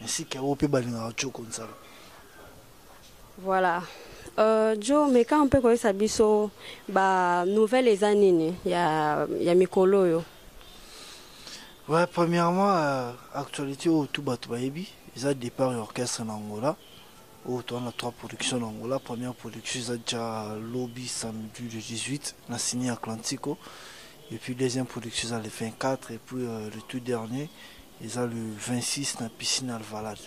Merci Caro pe balingaka Choco Nsala. Voilà. Euh, jo meka mpe koyesa biso ba nouvelle eza nini ya, ya mikolo oyo ouais, premièrement euh, actualité oyo tu bato bayebi eza départ ya orchestre na angola oyo toza na trois production na angola première production eza ja lobi samedi le 18 na sini atlantico Et puis deuxième production eza le 24 et puis euh, le tout dernier eza le 26 na piscine Alvalade.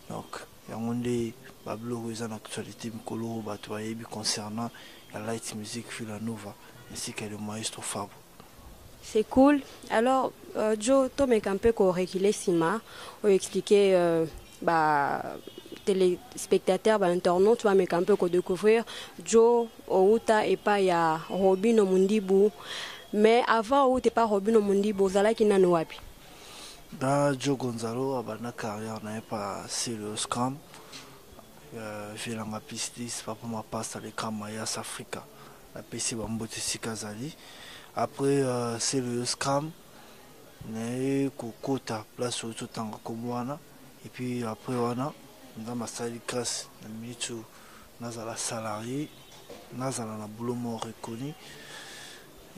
Donc yango nde babiloko eza na actualité mikolo oyo bato bayebi concernant la light music Villanova ainsi que le maestro Fabo. C'est cool. Alors, euh, Joe, tomeka un peu ko reculer sima, ou expliquer euh, ba telespectateurs ba internautes bameka mpe ko découvrir Joe owuta epai ya Robino Mundibu mais avant owuta epai Robino Mundibu ozalaki nani wapi da Joe Gonzalo abanda carrière na ye pa Serious Cam euh, Vielanga Pistis Papa Mapasta le Cam Mayas Africa napesi bambote esika azali après euh, Serious Cam naye kokota place oyo totanga kombo wana et puis après wana nzambe asali grace na minute oyo nazala salarie nazala na boulot moko reconnu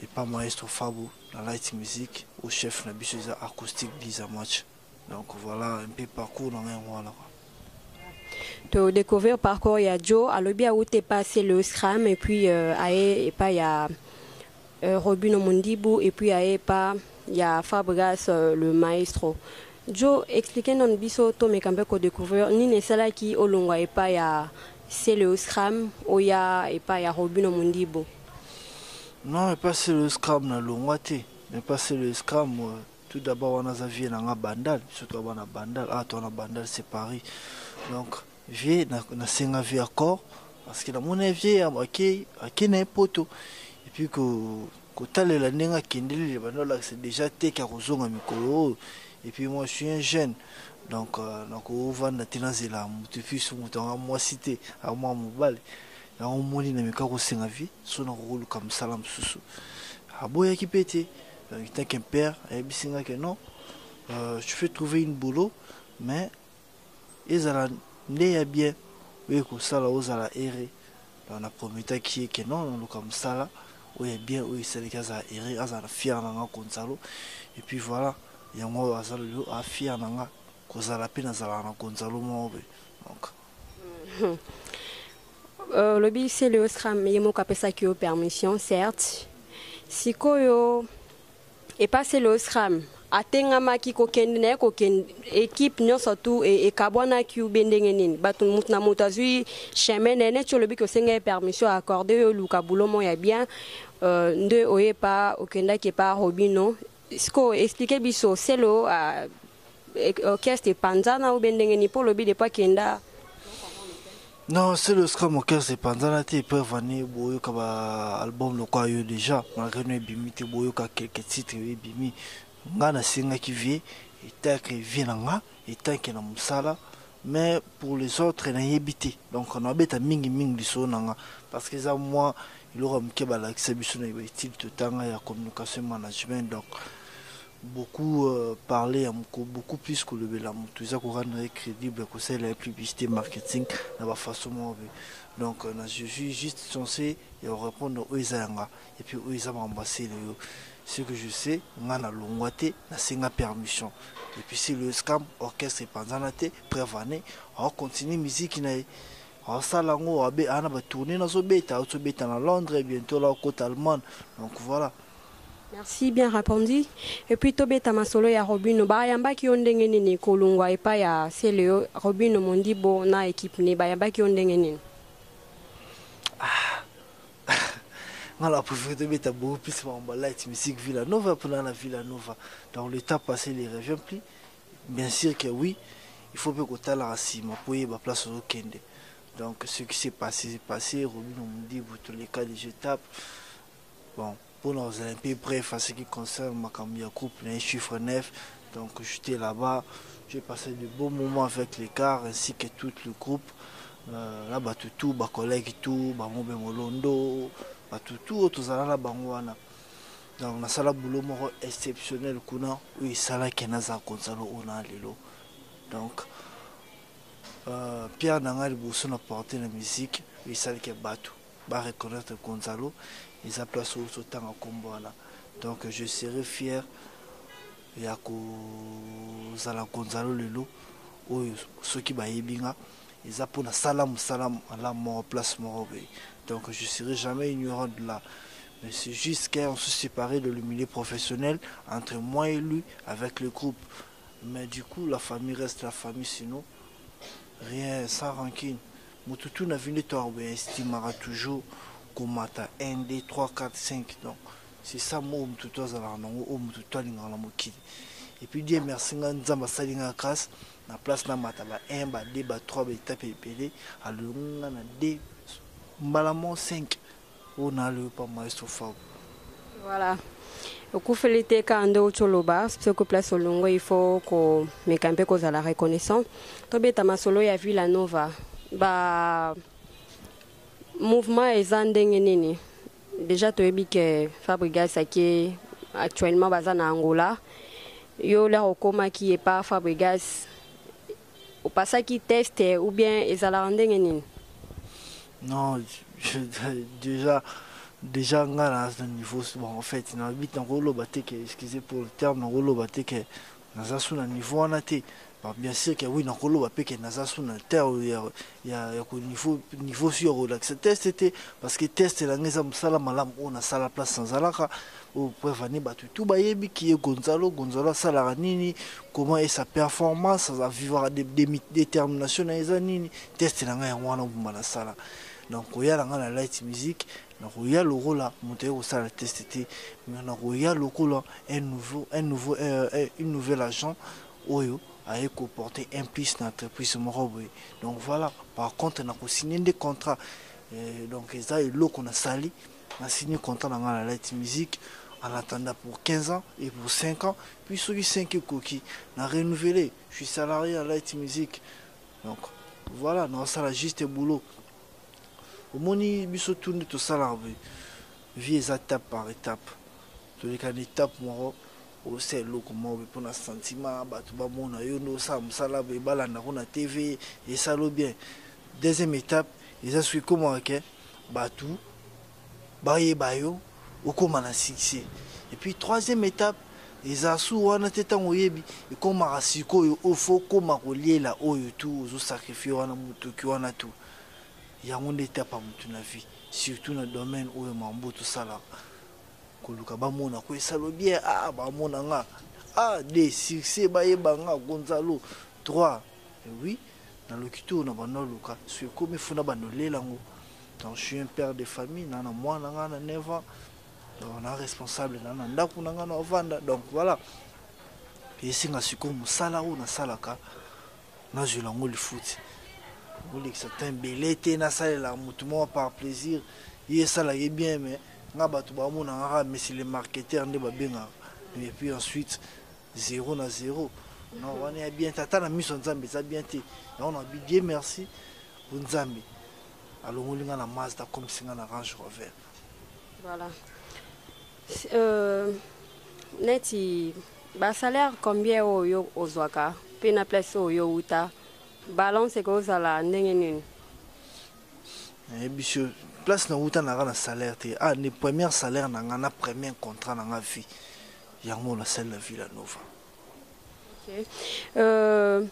epa maestro fabo na light musique au chef na biso eza acoustique bliza match Donc voilà un peu parcours na ngai yango wana. To découvrir parcours ya Joe alobi awute passe le scram et puis euh, aye epa ya euh, Robino Mundibu et puis aye epa ya Fabregas euh, le maestro. Joe expliquer non biso to mekambe ko découvrir nini esalaki olongwa epa ya c'est le scram oya epa ya Robino Mundibu. Non, epa c'est le scram na longwa te. Epa c'est le scram euh, Tout d'abord wana aza vieux na nga bandal biso toa bana bandal awa toa na bandal c'est Paris donc vieux nasenga vieux accord parce que namona ye vieux akei na ye poto et puis kotalela ndenge akendeli le banda olakisa déjà teke ya kozonga mikolo oyo et puis moi je suis un jeune donc euh, nakovanda te nazela motu epuis motu anga mwasi te amwa mobali yango omoni na meka kosenga vie so nakokoluka mosala mosusu aboyaki mpe te Euh, tant qu'un père ayebisi nga que non euh, tu fais trouver une boulot mais ezala nde ya bien oyo ekosala ozala ere na prometaki ye ke non noluka mosala oyo ya bien oyo esalaki azala ere azala fier na nga gonzalo et puis voilà yango oyo aza lelo afier na nga kozala mpe nazalaka na gonzalo moko boye donc Euh, olobi uh, c'est le osram ye moko apesaki yo permission certes sikoyo epa c'est le osram atengamaki kokende naye kokende ekipe nyonso tu e, ekabwanaki ube ndenge nini bato moto na moto azwi chemin naye neti olobi ke osenga ye permission accorde yo oluka boulot mo ya bien uh, nde oye pa okendaki epa robino sikoyo explike biso selo uh, orchestre epanzana ou bien ndenge ni po lobi de pas kenda non c'est le scrum orchestre epanzana te preuve ani boyoka ba album lokola yo déjà malgré no ebimi te boyoka quelques titres yo ebimi nga nasengaki vie etanke vie na nga etanke na mosala mais pour les autres nayebi te donc nabeta mingi mingi lisolo na nga parce que eza mwa eloko ya moke balakisa biso na baetile totanga ya communication management donc beaucoup parler ya muko beaucoup plus kolobela mutu eza ko rendre ye credible ya kosalela ye publicite marketing na ba façon moko boye donc na je suis juste censé ya ko repondre oyo eza ya nga et puis oyo eza makambo ya celeyo ce que je sais nga na longwa te na senga permission et puis celeyo scam orchestre epanzana te preuve en est azo continuer musique na ye asala yango abe ana ba tourner nazo beta azo beta na Londres bientôt la okota Allemagne donc voilà Merci bien repondu et puis tobeta masolo ya Robino bayambaki yo ndenge nini kolungwa epai ya Celeo Robino Mondibo na equipe ne bayambaki yo ndenge nini nga na préféré tobeta beaucoup plus makambo light musique villa nova mpona na villa nova donc le temps passé ne revient plus bien sûr que oui il faut mpe kotalaka nsima mpo oyeba place ozokende donc ce qui s'est passé passé robino modibo toleka de je tape Bon pona kozala un peu bref en ce qui concerne makambo ya groupe na ye chiffre 9 donc j'etais là-bas j'ai passé de beaux moments avec les cars ainsi que tout le groupe euh, na bato tout ba collègues tout ba mobe molondo bato tout oyo tozala na bango wana donc nasala boulot moko exceptionnel kuna oyo esalaki naza gonzalo oyo na lelo donc euh, pierre na ngai liboso na porte na musique oyo esalaki bato ba reconnaitre Gonzalo eza place oyo ozo tanga kombo wana donc je serai fier ya kozala Gonzalo lelo oyo soki bayebi nga eza mpo nasala mosala malamu moko place moko boye donc je serai jamais ignorant de la mais c'est juste quand on se séparait dans le milieu professionnel entre moi et lui avec le groupe mais du coup la famille reste la famille sinon rien sans rancune Mutu tout na vie nde to a estimaka toujours ko mata un deux trois quatre cinq donc c'est ça oyo mutu tout azalaka na ngo oyo mutu tout alingaka na mokili et puis Dieu merci nga nzambe asali nga grâce na place na mata ba un ba deux ba trois ba etape ebele alongi nga na deux mbala moko cinq Oyo nalo yo pa maestro Fabu. Voilà. Okufeli te ka nde outi oloba soki place olongwe il faut komeka mpe kozala reconnaissant tobeta masolo ya villa nova ba mouvement eza ndenge nini déjà toyebi ke fabrigas ake actuellement baza na angola yo lere okomaki epa fabrigas O passaki test ou bien ezalaka ndenge nini? Non, je, déjà, déjà nga na na niveau bon en fait na bit na koloba te que excusez pour le terme na koloba te que naza sous na niveau wana te. Bon, bien sûr que oui na koloba pe que naza sous na terre ya ya ko niveau niveau sur ko lakisa test te parce que test na ngeza musala malam o na sala place na zalaka o preuve ane batu tout ba yebi ki e gonzalo gonzalo sala nini comment est sa performance ça vivra de détermination na eza nini test na nga ya wana bumba na sala donc ko yala nga na light music na ko ya lokola moto ye ko sala test te mais na ko ya lokola un nouveau un nouveau euh, une nouvelle agent oyo aye ko porter un plus na entreprise moko boye donc voila par contre na ko signe nde contrat euh, donc eza eloko na sali na signe contrat na nga na light musique en attendant pour 15 ans et pour 5 ans puis soki 5 ekoki na renouveler je suis salarié ya light musique donc voilà na osala juste boulot omoni biso tu nde tosalaka boye vie eza tape par étape toleka na étape moko Osa eloko moko boye pona sentiment batu ba mona yo nde osala musala boye ba landa ngo na TV esala yo bien deuxième etape eza soki ekomaka ke batu ba yeba yo okoma na succès et puis troisième etape eza su wana te tango oyebi ekomaka sikoyo oyo fo okoma koliela oyo tu ozo sacrifier wana mutuki wana tu yango nde etape ya mutu na vie surtout na domaine oyo mambo tosalaka koluka bamona ko esalo bien ah bamona nga ah de succès bayeba nga gonzalo 3 eh oui na lokito na banda luka so ekomi funa banda olela ngo donc je suis un père de famille na na mwana nga na 9 ans donc na responsable na na ndako na nga na ovanda donc voilà esinga sikoyo mosala oyo nasalaka nazwela yango lifuti olekisa temps ebele te nasalela motu moko par plaisir ye esala ye bien mais nga bato bamonaka kaka messi le marketeur nde babengaka et puis ensuite zero na zero na wana ya bien te ata na miso ya nzambe eza bien te yango na bi die merci po nzambe alongoli nga na mazda akomisi nga na range rover voilà Euh, neti ba salaire combien oyo yo ozwaka mpe na place oyo yo wuta balance ekozala ndenge nini? nayebi eh, so place na wuta nanga na salaire te ah ne première salaire na nga na premier contrat na nga vie yango na sali na villa nova okay. euh...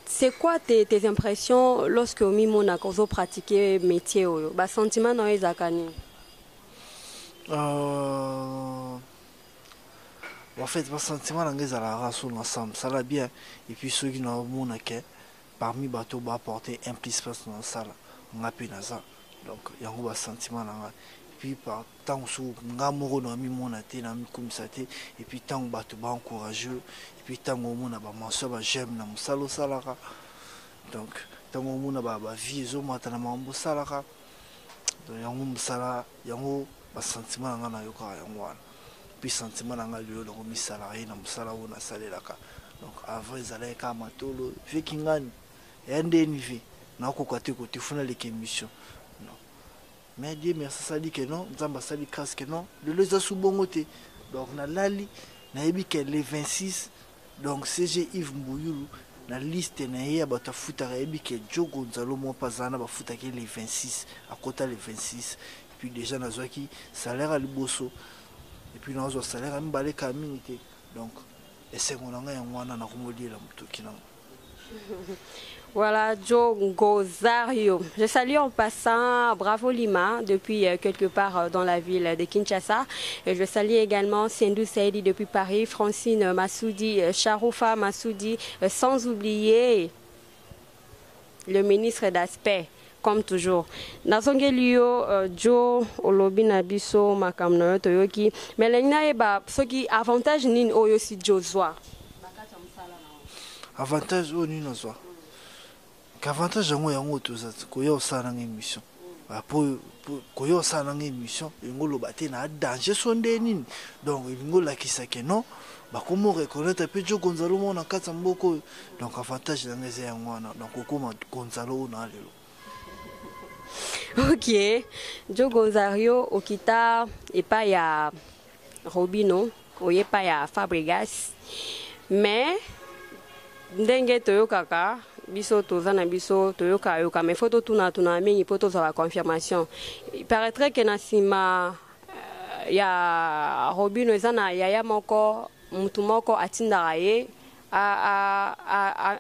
C'est quoi tes, tes impressions lorsque omimonaka ozo pratiquer métier oyo ba sentiment na yo ezalaka nini Euh, en fait basentiment na ngai ezalaka so na sam sala bien epuis soki naomona ke parmi bato baaporte un plus place na nasala ngai mpe naza donc yango basentiment na ngai epuis par ntango suku ngai moko namimona te namikumisa te epuis ntango bato baencourageux epuis ntango omona bamention bajeme na mosala osalaka donc ntango omona bavie ezomata na makambo osalaka donc yango musala yango ba sentiment na nga na yokaka yango wana puis sentiment na nga lelo nakomi salarié na musala oyo nasalelaka donc avant ezalaki kaka matolo vie kingani ya nde ni vie nakoka te kote funa leka émission non mais dieu merci asali ke non nzambe asali grâce ke non lelo eza su bongo te donc nalali nayebi ke le 26 Donc CG Yves Mbuyulu na liste na ye ya batu afutaka ayebi ke Djo Gonzalo moko pe aza wana bafutaka ye le 26 akota le 26 epuis dejà nazwaki salaire ya liboso epuis nazwa salaire ya mibale kala mingi te donc esengo na ngai yango wana nakomi oliela mutoki nanga. Voilà, Joe Gozario. Je salue en passant Bravo Lima depuis euh, quelque part euh, dans la ville de Kinshasa. Et je salue également Sendou Saidi depuis Paris, Francine Massoudi, euh, Sharoufa Massoudi, sans oublier le ministre d'aspect. comme toujours nazongeli yo uh, jo olobi na biso makambo na yo toyoki mais elingi nayeba soki avantage nini oyo osi jo zwa avantage oyo nini nazwa ke avantage yango yango toza koya osala nanga émission ah, po koya osala nanga émission elingi oloba te na danger so nde nini donc elingi olakisa ke non bakomi oreconnaitre mpe jo gonzalo moko na kati ya mboka oyo donc avantage na ngai eza yango wana donc okoma gonzalo oyo na lelo ok jo gonzario okita epai ya Robino oye pa ya Fabregas mais ndenge toyokaka biso toza na biso toyoka yoka mais faut totuna tuna mingi mpo tozwa ba confirmation il paraîtrait que na nsima euh, ya robino eza na yaya moko mutu moko atindaka ye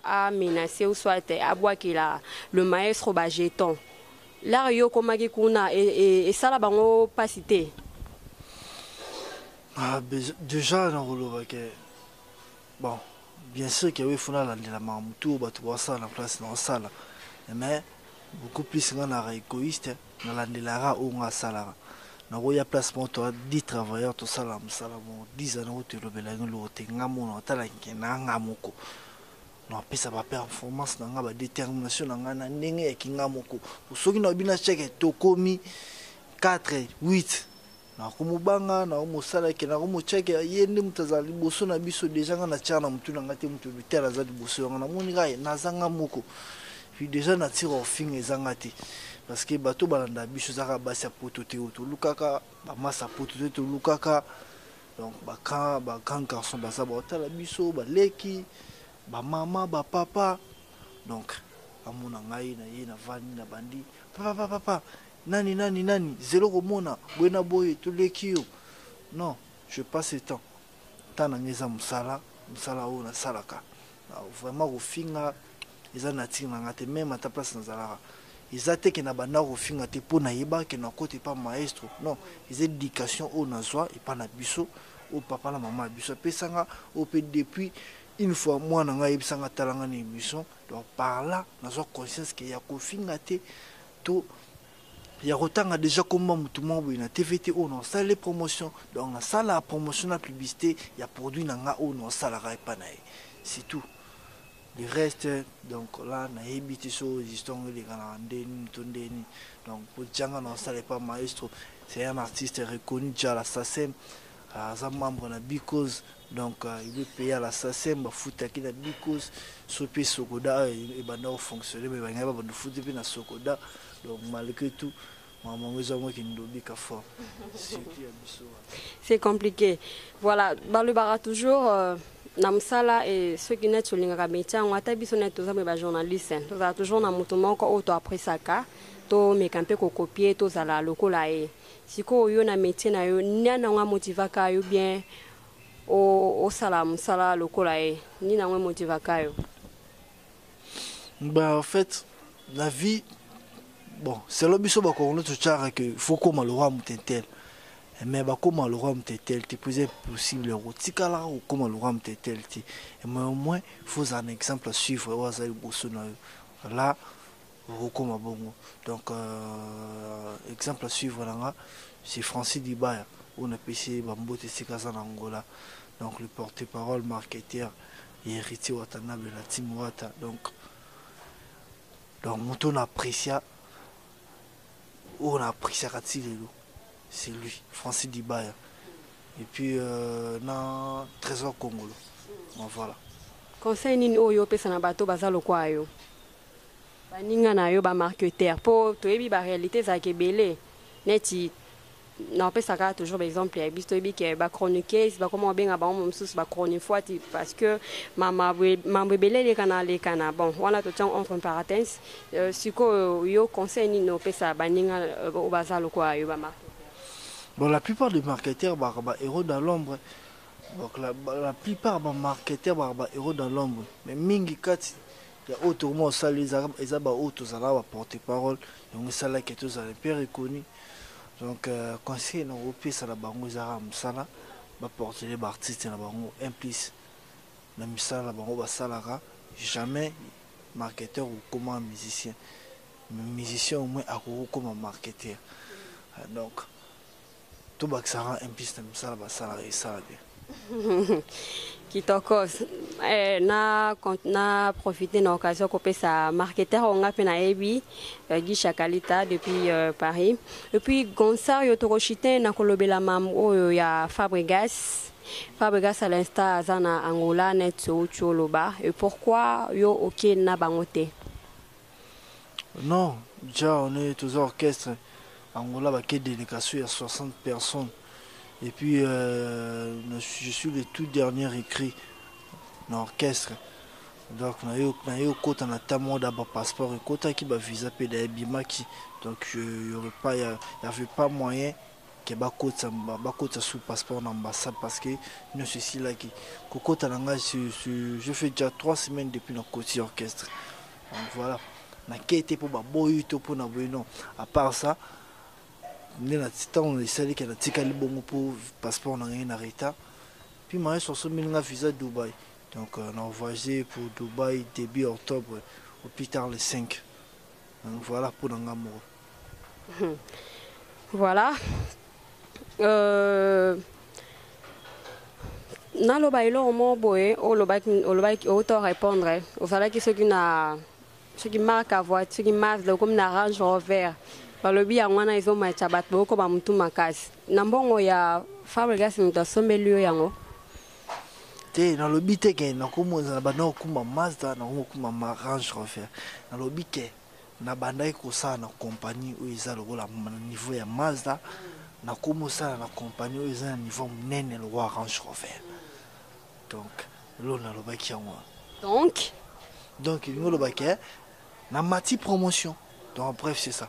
amenace ou soit abwakela le maestro bajeton Lar yo okomaki kuna esala bango pasi te? Ah, deja nakoloba ke bon bien sûr ke oui faut nalandela makambo tour bato baosala na place na osala mais beaucoup plus nga naka égoïste nalandelaka oyo nga asalaka nakoya place moko toa 10 travailleur tosala mosala moko 10 ans nako tolobela yango eloko te nga mona otala nke na nga moko Napesa ba performances na nga, ba determinations na nga na ndenge ya ki nga moko. Po soki nalobi na Tcheke tokomi quatre, huit, nakomobanga, nakomosala ke, nakomotia ke ye nde moto azala liboso na biso. Dejà nga natiaka na motu na nga te moto tel aza liboso ya nga. Namoni kaka ke naza nga moko. Puis dejà nature ya kofinga eza nga te. Parce que bato oyo balandaka biso eza kaka basi ya poto te oyo tolukaka, ba masta ya poto te tolukaka. Donc ba grand ba grand garçon baza ba otala biso ba leki ba mama ba papa donc amona ngai na ye na vandi na bandi papa papa papa nani nani nani zelo komona boye na boye toleki yo non je passe le temps temps na ngai eza mosala mosala oyo nasalaka Vraiment kofinga eza nature na nga te meme ata place nazalaka eza te ke na banda kofinga te mpo nayeba ke nakota epa maestro non eza education oyo nazwa epa na biso oyo papa na mama ya biso apesa nga oyo mpe depuis une fois mwana ngai ayebisa nga tala nga na émission donc par là nazwa conscience ke ya kofinga te to ya kotanga dejà kombo ya mutu moko boye na TV te oyo na osala ye promotion donc na sala promotion na publicite ya produit na nga oyo na osalaka epa na ye c'est tout le reste donc là na yebi te so existant ngo eleka na nde nini to nde nini donc po djanga na osala epa maestro c'est un artiste reconnu dja la SACEM aza membre na Bicos Donc il veut payer à la SACEM bafutaki na Bicos so mpe Socoda oyo ah, ebanda kofonctionne me bangai babanda futi mpe na Socoda donc malgré tout makambo yango eza yango kindobi ka fort surtout ya biso c'est compliqué voilà balobaka toujours euh... na mosala e soki neti tolingaka métier yango ata biso neti toza mpe bajournaliste tozala toujours na moto moko oyo toapresaka tomeka mpe kokopie tozala lokola ye Sikoyo yo na metier na yo nani yango a motivaka yo bien osala musala lokola ye nini yango e motivaka yo? Bah en fait la vie bon selon biso ba congolais to tchara que faut koma le roi mutetel mais ba koma le roi mutetel te plus impossible ko tikala ko koma le roi mutetel te mais au moins faut un exemple à suivre wa za liboso na yo là Okokoma bongo donc euh, exemple à suivre na nga c'est Francis Dibaya oyo napesi ye bambote esika aza na Angola donc le porte parole marketeur ya héritier Watanabe na Tim Wata donc donc moto na apprécia oyo na appréciaka ti lelo c'est lui Francis Dibaya et puis euh, na Trésor Kongolo bon, voilà conseil nini oyo opesa na bato baza lokwa yo baninga na yo ba marketeur po toyebi ba realite ezalaka ebele neti napesa kaka toujours baexemple ya biso toyebi ke ba chroniqueuse bakoma kobenga bango mosusu ba chronifuati parce que mambo ebele elekana lekana bon wana totiango entre parenthèse euh, sikoyo yo conseil nini opesa baninga euh, oyo baza lokola yo ba marketeur bon la plupart des marketeurs baka ba héros dans l'ombre donc la, la plupart ba marketeurs baka ba héros dans l'ombre mais mingi kati Ya oyo tokomona osali ezalaka eza ba oyo tozalaka ba porte parole yango esala ke tozala un peu reconnu donc conseil na kopesa na bango eza kaka mosala ba portele ba artiste na bango un plus na misala na bango basalaka jamais marketeur okoma musicien mais musicien au moins akoki kokoma marketeur donc To bakisa rang impiste na misala basala esala bien. kitoko eh, na, na profite na occasion kopesa marketer oyo nga mpe nayebi uh, eh, gisha kalita depuis uh, paris epuis gonsar yo tokoshite na kolobela mam oyo ya fabregas fabregas à l'insta aza na angola net outi oloba et pourquoi yo okei na bango te Non dja on est toza orchestre Angola ba ke delecation ya 60 personnes et puis euh, je suis le tout dernier recrue na orchestre donc na yo na yo kota na ta mois ba passeport ekotaki ba visa pe da ebimaki donc je y aurait pas y avait pas moyen ke bakotisa bakotisa sous passeport na ambassade parce que nionso esilaki kokota na ngai je fais déjà 3 semaines depuis na koti orchestre donc voilà nakei te mpo baboyi to mpo na boye non à part ça nde na ntango esali ke natikali bongo mpo passeport na ngai na retard puis maestro asombeli ngai visa dubai donc euh, na voyage pour dubai début octobre au plus tard le 5 donc voilà mpo na ngai moko Hmm. Voilà. Euh... naloba eloko moko boye olobaki outa orépondre ozalaki soki na soki marque ya voiture soki mazda okomi na range rover balobi yango wana ezomatya bato bokoba motu makasi na mbongo ya fabrigas moto asombeli yo yango te nalobi te ke nakomonzana banda kokuma mazda nakomi kokuma ma range rover nalobi ke Na bandaki kosala na compagnie oyo eza lokola na niveau ya Mazda, na komi osala na compagnie oyo eza na niveau ya munene lokola Range Rover. Donc eloko na lobaki yango wana. Donc? Donc elingi oloba que na mati promotion. Donc bref c'est ça.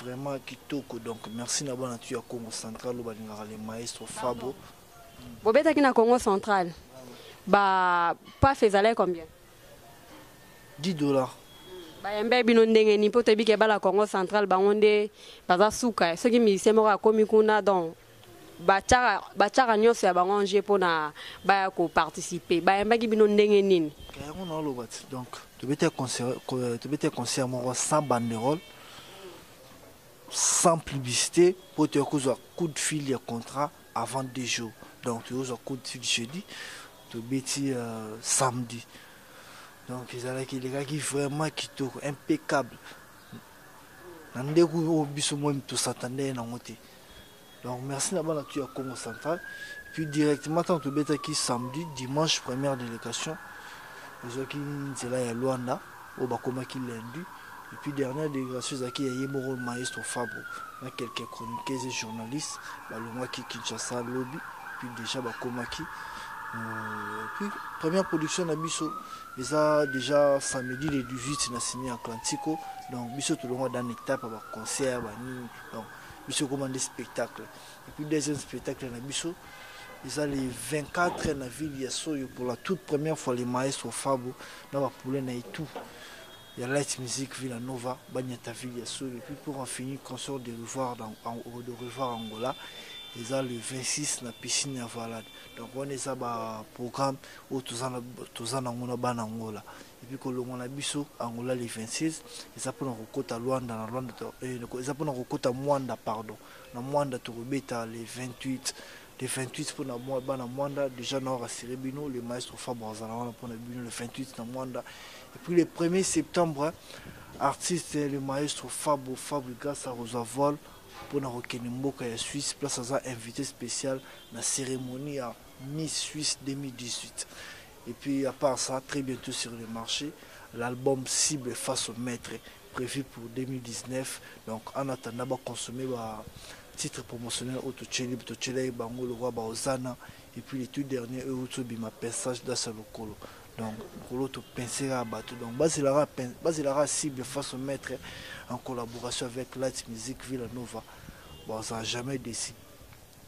Vraiment kitoko donc merci na bana tu ya Congo central oyo balingaka le maestro Fabo. Bobetaki na Congo central ba paf ezalaki combien? 10 dollars. bayembe bino ndenge nini mpo toyebi ke bana congo central bango nde baza suka soki musicien moko akomi kuna donc batiaka batiaka nyonso ya bango en jeu mpona baya koparticipe bayambaki bino ndenge nini eh, yango naoloba ti donc tobeti ya concert moko sans banderole sans publicité mpo toya kozwa coup de fil ya contrat avant deux jours donc tokozwa coup de fil jeudi tobeti euh, samedi donc ezalaki elekaki vraiment kitoko impeccable na ndeko oyo biso moi tosatandeye nango te Donc merci na bana tu ya Congo central. Et puis directement tant tu beta qui samedi, dimanche première délégation. Ils ont qui nzela ya Luanda au bakoma qui lundi. Et puis dernière délégation zaki ya yemoro maestro Fabo na quelques chroniqueurs et journalistes balongwa qui Kinshasa lobby. Et puis déjà bakoma qui euh, puis première production na biso eza déjà samedi le 18 na signé Atlantico. Donc biso tolongwa dans étape ba concert ba nini. Donc biso ekoma nde spectacle epuis deuxième spectacle na biso eza le 24 na ville ya soyo pour la toute première fois le maestro fabo na bapoule na etou ya light musique ville ya nova banyata ville ya soyo epuis pour en finir concert de revoir, dans, en, de revoir angola eza le 26 na piscine ya valade donc wana eza baprogramme oyo toza nango na bana angola et puis kolongwa na biso Angola le 26 eza mpona kokota Luanda na Luanda eh, eza mpona kokota Mwanda pardon na Mwanda tokobeta le 28 le 28 mpona mwa bana Mwanda déjà na rassurer bino le maestro Fabre azala wana mpona bino le 28 na Mwanda et puis le 1er septembre artiste le maestro Fabo Fabrigas akozwa vol mpona kokende mboka ya Suisse place aza invité spécial na cérémonie ya Miss Suisse 2018 et puis à part ça très bientot sur le marche l'album cible face au maitre prevu pour 2019 donc en attendant ba consommer ba titre promotionnel oyo totyeli totyelaki bango lokola baozana et puis le tout dernier oyo euti obima pensage das ya lokolo donc mokolo topense kaka bato donc bazelaka cible face au maître en collaboration avec light musique villa nova baozala jamais déci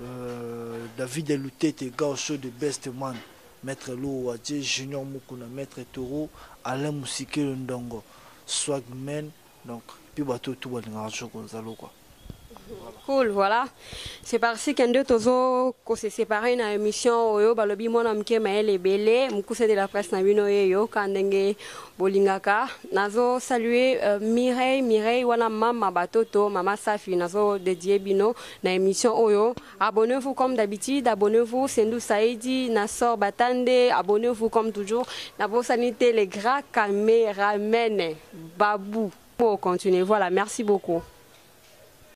Euh, David Lutete, Gaucho de Best Man, Maître Lou Wadje, Junior Mukuna, Maître Toro, Alain Musikelo Ndongo, Swagman, donc, puis bateau tout balingaka toujours Gonzalo quoi. Cool, voilà. C'est parti qu'un deux tozo qu'on s'est séparé dans l'émission Oyo balobi mwana mke maele ebele mukuse de la presse na bino yeyo kandenge bolingaka nazo saluer euh, Mireille Mireille wana mama batoto mama Safi nazo dédier bino na emission oyo abonnez vous comme d'habitude abonnez vous Sendou Saidi Nassor Batande abonnez vous comme toujours na bosani te les grands caméramen Babou pour continuer voilà merci beaucoup